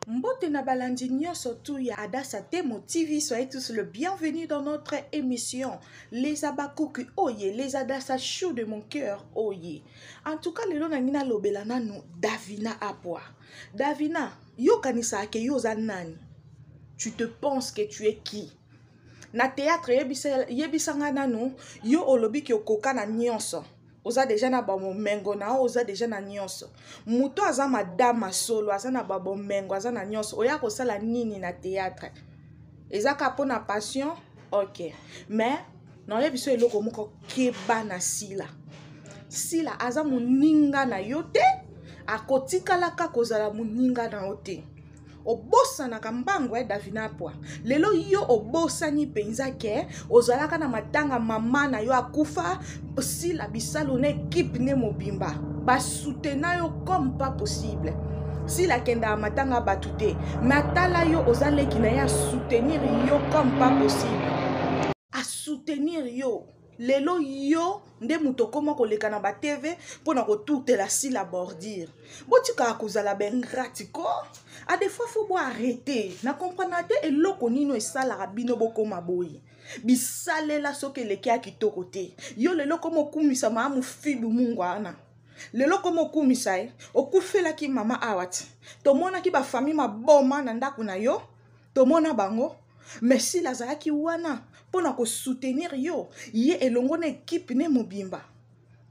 Mbote na balandi nyonso tu ya Adasa Temo TV, soyez tous le bienvenu dans notre émission Les Abakuki oye, les Adasa chou de mon cœur oye. En tout cas, lelo na ngina lobela nanu Davina Apwa. Davina, yo kanisa ke yo za nani? Tu te penses que tu es qui? Na théâtre yebisa, yebisa nga nanu, yo olobi ki okoka na nyonso. oza deja na bamomengo na yo oza deja na nyonso moto aza madama solo aza na babomengo aza na nyonso oya kosala nini na théâtre eza ka mpo na passion ok mais naoye biso eloko moko keba na sila sila aza moninga na yo te akotikalaka kozala moninga na yo te obosanaka mbangu ya eh, davina apwa lelo yo obosani mpenza ke ozalaka na matanga mama na yo akufa sila bisalu na ekipe nde mobimba basutena yo comme pas possible sila akendaka matanga bato te me atala yo oza leki na ye asoutenir yo comme pas possible asoutenir yo lelo yo nde moto okoma koleka na batv mpo na kotutela sila bordire botikaka kozala bengrati ko adefois fo bo arrete na komprana te eloko nino esalaka bino bokoma boye bisalela soki eleki ya kitoko te yo lelo koma okumisa maa mofibu mungu wana lelo koma okumisa ye okufelaki mama awa ti tomonaki bafamille maboma na ndako na yo tomona bango mais sila azalaki wana mpo na kosoutenir yo ye elongo na ekipe ne mobimba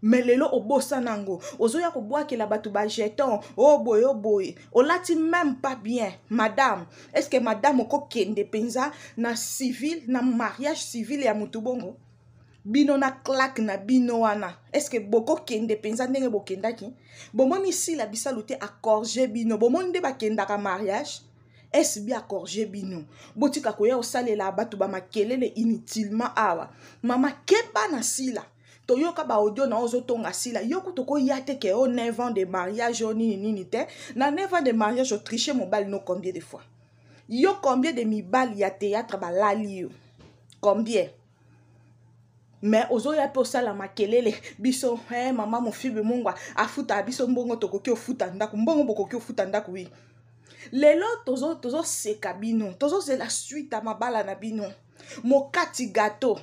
me lelo obosana yango ozoya kobwakela bato bajeton o oh, boye o oh, boye olati meme pas bien madame est ce que madame okokende mpenza na civil na mariage civil ya motu bongo bino na claque na bino wana estce bokokende mpenza ndenge bokendaki bomoni sila bisalu te acorge bino bomoni nde bakendaka mariage SB a corriger bino. Botika koya osalela batu ba makelele inutilement awa. Mama keba na sila. toyoka baaudio na ozo tonga sila yo kutu koya te ke o 9 ans de mariage o nini nini te na 9 ans de mariage otriche mobali no combien de fois yo combien de mibali ya théâtre balali yo combien me ozoya mpe osala makelele biso hey, eh, mama mofibi mungwa afuta biso mbongo tokoki ofuta ndako mbongo bokoki ofuta ndako wi lelo tozoseka tozo, tozo bino tozozela swite ya mabala na bino mokati gato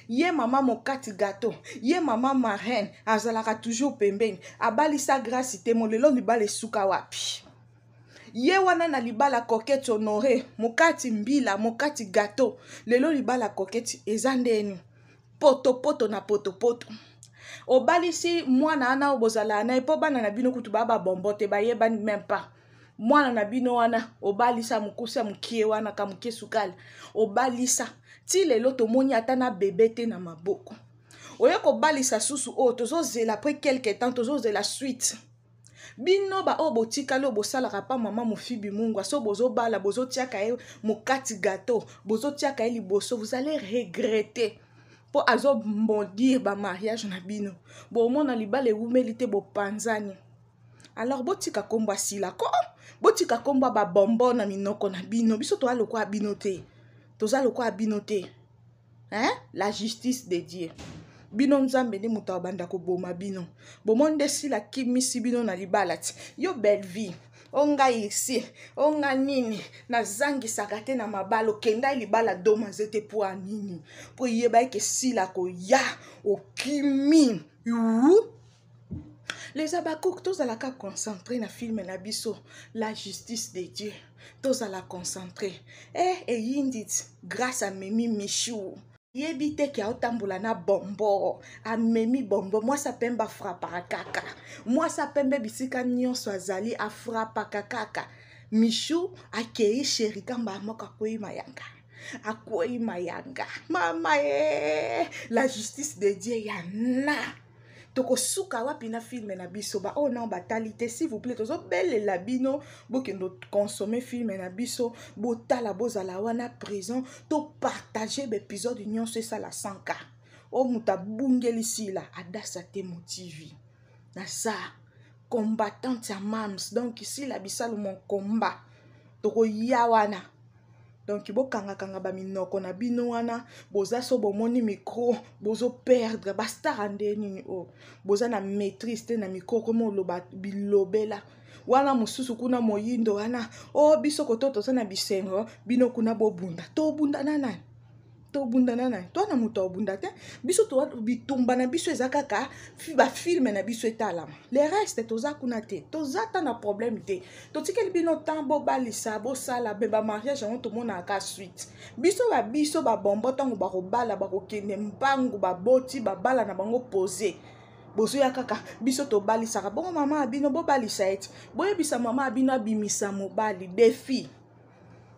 ye mama mokati gato ye mama marraine azalaka toujours pembeni abalisa grasi te molelo libala esuka wapi ye wana na libala coquete honore mokati mbila mokati gato lelo libala coquete eza ndeni potopoto na potopoto obalisi mwana wana oyo bozalaa na ye mpo bana na bino kutu baa babombo te bayebani meme pas mwana na bino wana obalisa mokusa mokie wana ka mokie sukali obalisa ti lelo tomoni ata na bebe te na maboko oye kobalisa susu oyo tozozela apres quelque temps tozozela suite bino baoyo botikali oyo bosalaka pa mama mofibi mungwa so bozobala bozotiaka ye mokati gato bozotiaka ye liboso vous allez regretter mpo azobondir bamariage na bino bomona libala ewumeli te bopanzani alors botika nkombo asila ko botika nkombo ya babombo na minoko na bino biso toza lokola bino te toza lokola bino te hein? la justice de dieu bino nzambe nde moto abanda koboma bino bomoni nde sila kimisi bino na libala ti yo bellevie o ngai esi o nga nini nazangisaka te na mabala okendai libala doma nzete mpo ya nini mpo eyebaki ke sila koya okimi uu les habacuc tozalaka concentré na filme na biso la justice de dieu tozala concentré eh, e eyindit grâce à memi michou yebi te ke aotambola na bombo amemi bombo mwasi apembe afrapaka kaka mwasi apembe bisika nyonso azali afrapaka kaka michou akei sheri kamba moko akwei mayanga akwei mayanga mama ye la justice de dieu ya na tokosuka wapi na filme na biso baoyo oh nao batali te s'il vous plaît tozobelela bino bokende consomme filme na biso botala bozala wana présent topartage baepisode nyonso esala 100 ka oyo moto abungeli sila adasa te motivi naza combattante ya mams donc sila bisalu mon combat tokoya wana donc bokangakanga baminoko na bino wana boza so bomoni micro bozoperdre bastara nde nini oyo oh. boza na maîtrise te na micro komi oloba bilobela wana mosusu kuna moyindo wana o oh, biso koto toza na bisengo bino kuna bobunda tobunda na nani tobunda na nani to na moto abunda te biso bitumba na biso eza kaka bafilme na biso etalama le reste toza kuna te toza ata na problème te totikeli bino temps bobalisa bosala mpe bamariage yango tomonaka suite biso ba biso babombo ntango bakobala bakokende mpangu baboti babala na bango pose bozoya kaka biso tobalisaka bongo mama ya bino bobalisa ete boyebisa mama ya bino abimisa mobali defi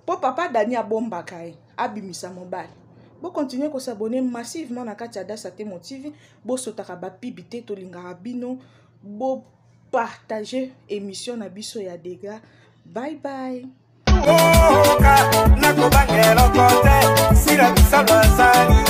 mpo papa dani abombaka ye abimisa mobali bokontinue kosabone massivement na kati ya dasa temo tv bosotaka bapibi te tolingaka bino bopartage émission na biso ya dega bye bye oka nakobanga eloko te sila biso bazali